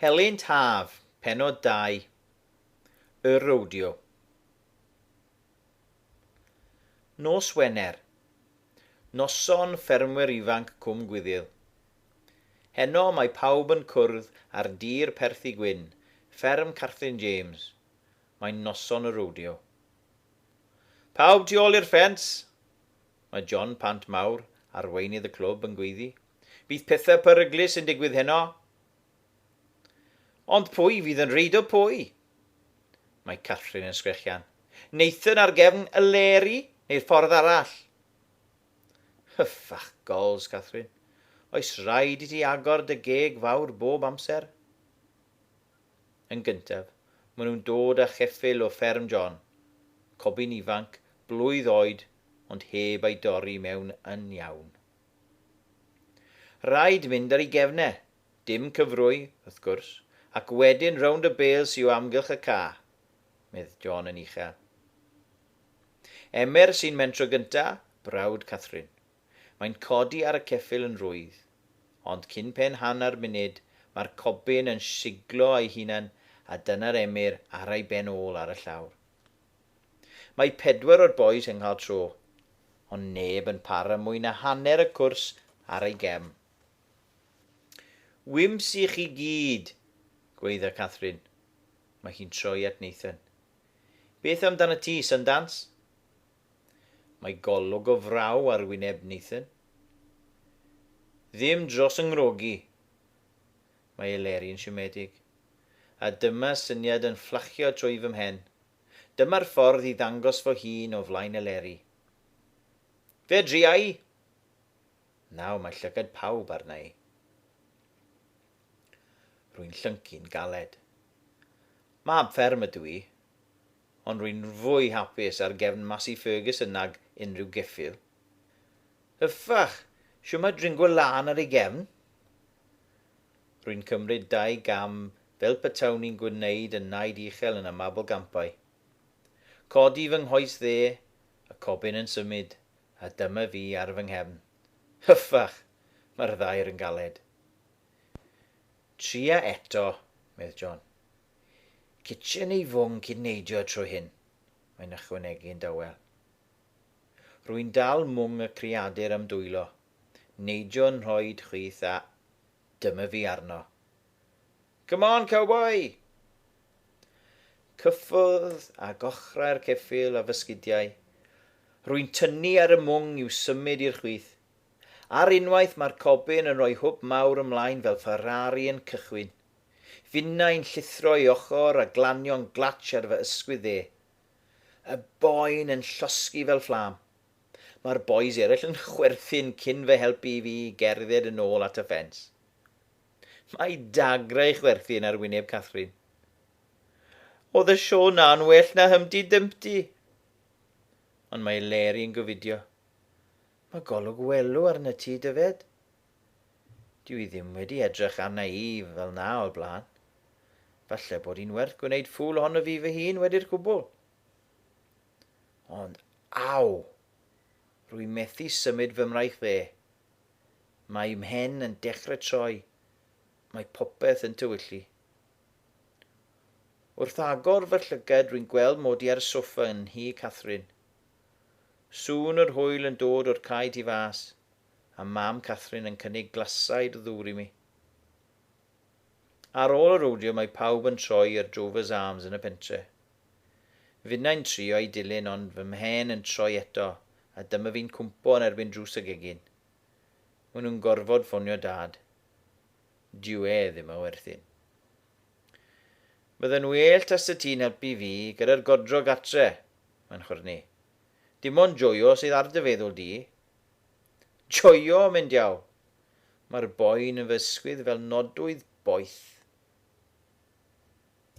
Helynt Haf, Pennod 2, Y Rodeo. Nos Wener, Noson Ffermwyr Ifanc Cwm Gwyddyl. Heno mae pawb yn cwrdd ar dir Perthi Gwyn, fferm Catherine James, mae'n noson y rodeo. Pawb tu ôl i'r ffens! Mae John Pant Mawr, arweinydd y clwb, yn gweiddi. Bydd pethau peryglus yn digwydd heno. Ond pwy fydd yn reidio pwy? Mae Catherine yn sgrechian. Nathan ar gefn y leri neu'r ffordd arall? Hyffach gols, Catherine. Oes rhaid i ti agor dy geg fawr bob amser? Yn gyntaf, maen nhw'n dod â cheffyl o fferm John, cobyn ifanc, blwydd oed, ond heb ei dorri mewn yn iawn. Rhaid mynd ar ei gefn e. Dim cyfrwy, wrth gwrs, ac wedyn rownd y bêls yw amgylch y ca, medd John yn uchel. Emer sy'n mentro gynta, brawd Catherine. Mae'n codi ar y ceffyl yn rwydd. Ond cyn pen hanner munud, mae'r cobyn yn siglo ei hunan a dyna'r Emyr ara'i ben ôl ar y llawr. Mae pedwar o'r bois yn cael tro, ond neb yn para mwy na hanner y cwrs ar ei gem. Wymps i chi gyd! gweidda Catherine. Mae hi'n troi at Nathan. Beth amdana ti, Sundance? Mae golwg o fraw ar wyneb Nathan. Ddim dros 'y ngwrogi. Mae Elerie'n siomedig. A dyma syniad yn fflachio trwy fy mhen. Dyma'r ffordd i ddangos fo hun o flaen Eleri. Fedriai! Naw, mae llygad pawb arna i. Rwy'n llyncu'n galed. Mab fferm ydw i, ond rwy'n fwy hapus ar gefn Masi Ferguson nag unrhyw geffyl. Hyfach! Shwmae dringwo lân ar ei gefn? Rwy'n cymryd dau gam fel petawn i'n gwneud y naid uchel yn y Mabolgampau. Codi fy nghoes dde, y cobyn yn symud, a dyma fi ar fy nghefn. Hyffach! Mae'r ddaear yn galed. Tria eto, medd John. Kitchen ei fwng cyn neidio y tro hyn, mae'n ychwanegu'n dawel. Rwy'n dal mwng y creadur am dwylo, Neidio'n nhroed chwith a dyma fi arno. Come on, cowboi! Cyffwrdd â gochrau'r ceffyl a fy sgidiau. Rwy'n tynnu ar y mwng i'w symud i'r chwith. Ar unwaith mae'r cobyn yn rhoi hwb mawr ymlaen fel Ferrari yn cychwyn. Finnau'n llithro ei ochr a glanio'n glatsh ar fy ysgwydd dde. Y boen yn llosgi fel fflam. Mae'r bois eraill yn chwerthin cyn fy helpu i fi i gerdded yn ôl at y ffens. Mae dagrau chwerthin ar wyneb Catherine. Oedd y sio na'n well na Humpty Dumpty. Ond mae Leri yn gofidio. Mae golwg welw arna ti, Dyfed. Dyw i ddim wedi edrych arna i fel na o'r blaen. Falle bod hi'n werth gwneud ffŵl ohono fi fy hun wedi'r cwbl. Ond, aw! Rwy'n methu symud fy mraich dde. Mae mhen yn dechrau troi. Mae popeth yn tywyllu. Wrth agor fy llygad rwy'n gweld mod i ar y soffa yn nhŷ Catherine. Sŵn yr hwyl yn dod o'r cae tu fas, a mam Catherine yn cynnig glasau i'r ddŵr i mi. Ar ôl y rowdio mae pawb yn troi i'r Drovers Arms yn y pentre. Finnau'n trio i dilyn ond fy mhen yn troi eto a dyma fi'n cwmpo yn erbyn drws y gegin. Maen nhw'n gorfod ffonio Dad. Dyw e ddim a werthin. Bydde'n well tase ti'n helpu fi gyda'r godro gartre, mae'n chwyrnu. Dim ond joio sydd ar dy feddwl di. Joio, myn diawl! Mae'r boen yn fy ysgwydd fel nodwydd boeth.